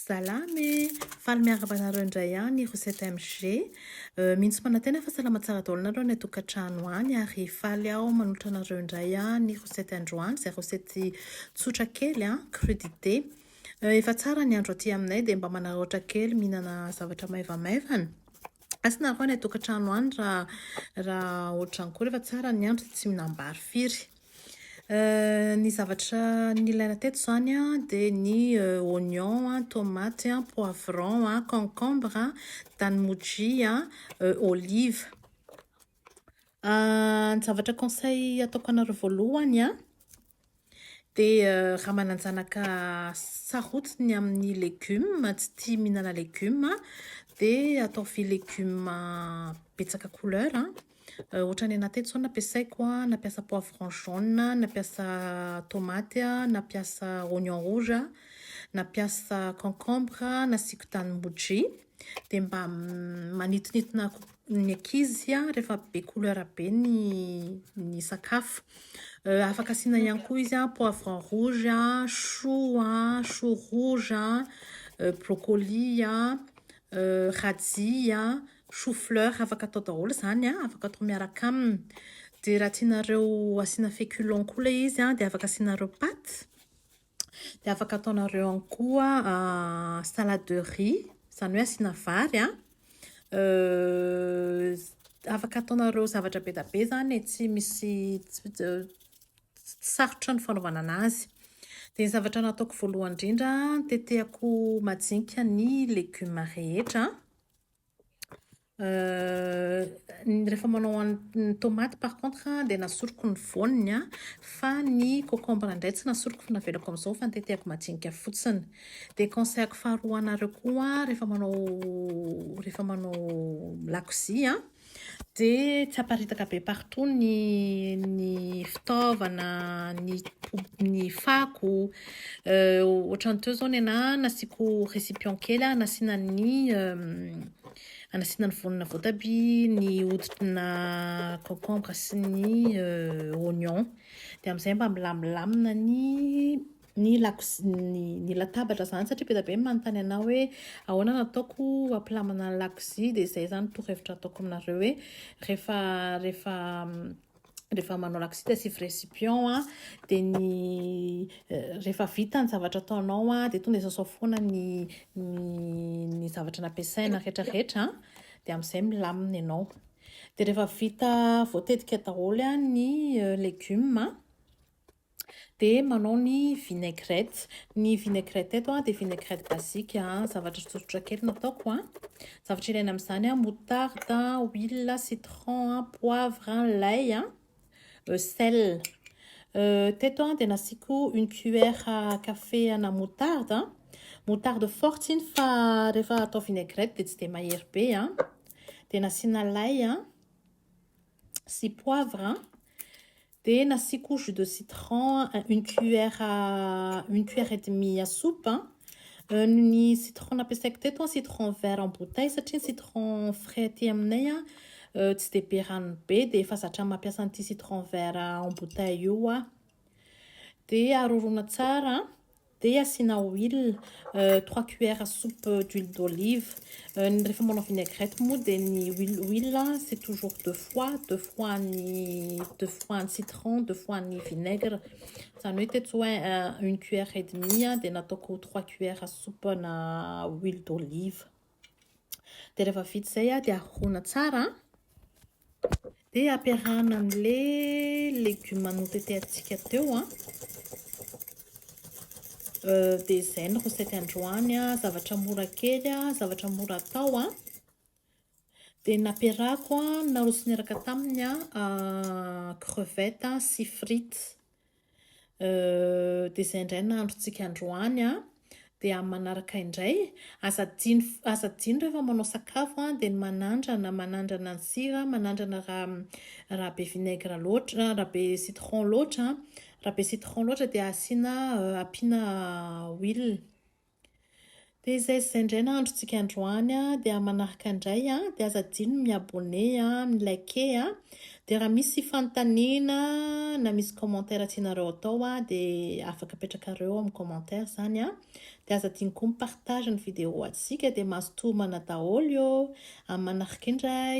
Salama e! Faly miaraba anareo indray ihany ry 7MG. Euh, mino sy manantena fa salama tsara daholo nareo any an-tokantrano any ary faly aho manolotra anareo indray aho ny rosety androany izay rosety tsotra kely a, crudité. Euh, efa tsara ny andro aty aminay dia mba manararaotra kely mihinana zavatra maivamaivana. Asina avy any atokatrano any raha raha ohatran kory efa tsara ny andro tsy minambary firy. Euh, ny zavatra nilaina teto izany a dia ny euh, oignon a, tomate a, poivron a, concombre a, danimoji a, euh, olive. Ny zavatra conseil ataoko anareo voalohany an, dia raha manan-janaka sarotiny ny amin'ny legioma, tsy tia mihinana legioma, dia ataovy legioma betsaka couleur. Ohatra ny anà teto izao nampiasaiko, nampiasa poivron jaune, nampiasa tomaty, nampiasa oignon rouge, nampiasa concombre, nasiako tanimboudria. dia mba manitonitona ny ankizy rehefa be couleur be ny ny sakafo. Euh, afaka asiana ihany koa izy poivron rouge, chou, chou rouge, euh, brocoli, euh, radis, chou fleur afaka atao daholo izany a, afaka atao miaraka aminy. Dia raha tianareo asiana féculents koa ilay izy dia afaka asianareo pâtes. Dia afaka ataonareo ihany koa salade de riz, izany hoe asiana vary a. Afaka ataonareo zavatra be dia be izany e, tsy misy sarotra ny fanaovana an'azy. Dia ny zavatra nataoko voalohany indrindra, tetehako majinika ny legioma rehetra. Rehefa manao an'ny tomaty par contre dia nasoroko ny voany an, fa ny cocombre indray tsy nasoroko fa navelako amin'izao fa notetehako majinika fotsiny. Dia conseil-ko faharoa ho anareo koa rehefa manao rehefa manao lakozia an, dia tsy aparitaka be partout ny ny fitaovana, ny ny fako. Ohatran'ny teo izao ny anà nasiako récipient kely an, nasiana ny Anasiana ny voanina voatabia, ny hoditrina concombre sy ny oignon. Dia amin'izay mba milamilamina ny ny lakozia ny ny latabatra izany satria be dia be ny manontany anao hoe ahoana no ataoko hampilamina ny lakozia dia izay izany torohevitra ataoko aminareo hoe rehefa rehefa rehefa manao laksita sy récipient a dia ny euh, rehefa vita ny zavatra ataonao a dia tonga sasao foana ny ny zavatra nampiasaina rehetrarehetra dia amin'izay milamina ianao dia rehefa vita voatetika daholo a ny euh, legioma Dia manao ny vinaigrette. Ny vinaigrette eto dia vinaigrette basique, zavatra tsotsotra kely no ataoko. Zavatra ilaina amin'izany, moutarde, huile, citron, poivre, lay, sel. Teto dia nasiako une cuillère à café ana moutarde. Moutarde forte iny fa rehefa atao vinaigrette dia tsy dia mahery be. Dia nasiana lay sy poivre. Dia nasiako jus de citron une cuillère à une cuillère et demie à soupe. Ny citron nampiasaiko teto citron vert en bouteille satria ny citron frais aty aminay tsy dia be ranony be dia efa zatra mampiasa an'ity citron vert en bouteille io aho. Dia arorona tsara. Dia asiana huile, trois cuillères soupe d'huile d'olive, ny rehefa manao vinaigrette moa dia ny huile huile c'est toujours deux fois, deux fois ny deux fois ny citron, deux fois ny vinaigre, izany hoe teto izao une cuillère et demie dia nataoko trois cuillères soupe na huile d'olive. Dia rehefa vita izay an, dia arohoana tsara an. Dia ampiarahana amin'ilay legioma notetehantsika teo an. Dia izay ny recette androany an, zavatra mora kely an, zavatra mora atao an. Dia nampiarahako an, narosony niaraka taminy an, crevettes sy frites. dia izay indray ny androntsika androany an dia amin'ny manaraka indray aza adino aza adino rehefa manao sakafo an dia ny manandrana manandrana ny sira manandrana raha raha be vinaigre loatra raha be citron loatra raha be citron loatra dia asiana ampiana huile Dia izay sy izay indray ny androntsika androany a, dia manaraka indray a, dia aza adino ny mi-abonné a, mi-liker a, dia raha misy fanontaniana na misy commentaire tianareo atao a, dia afaka apetrakareo amin'ny commentaire izany a, dia aza adino koa mi-partage ny vidéo antsika dia mazotoa homana daholo eo, amin'ny manaraka indray.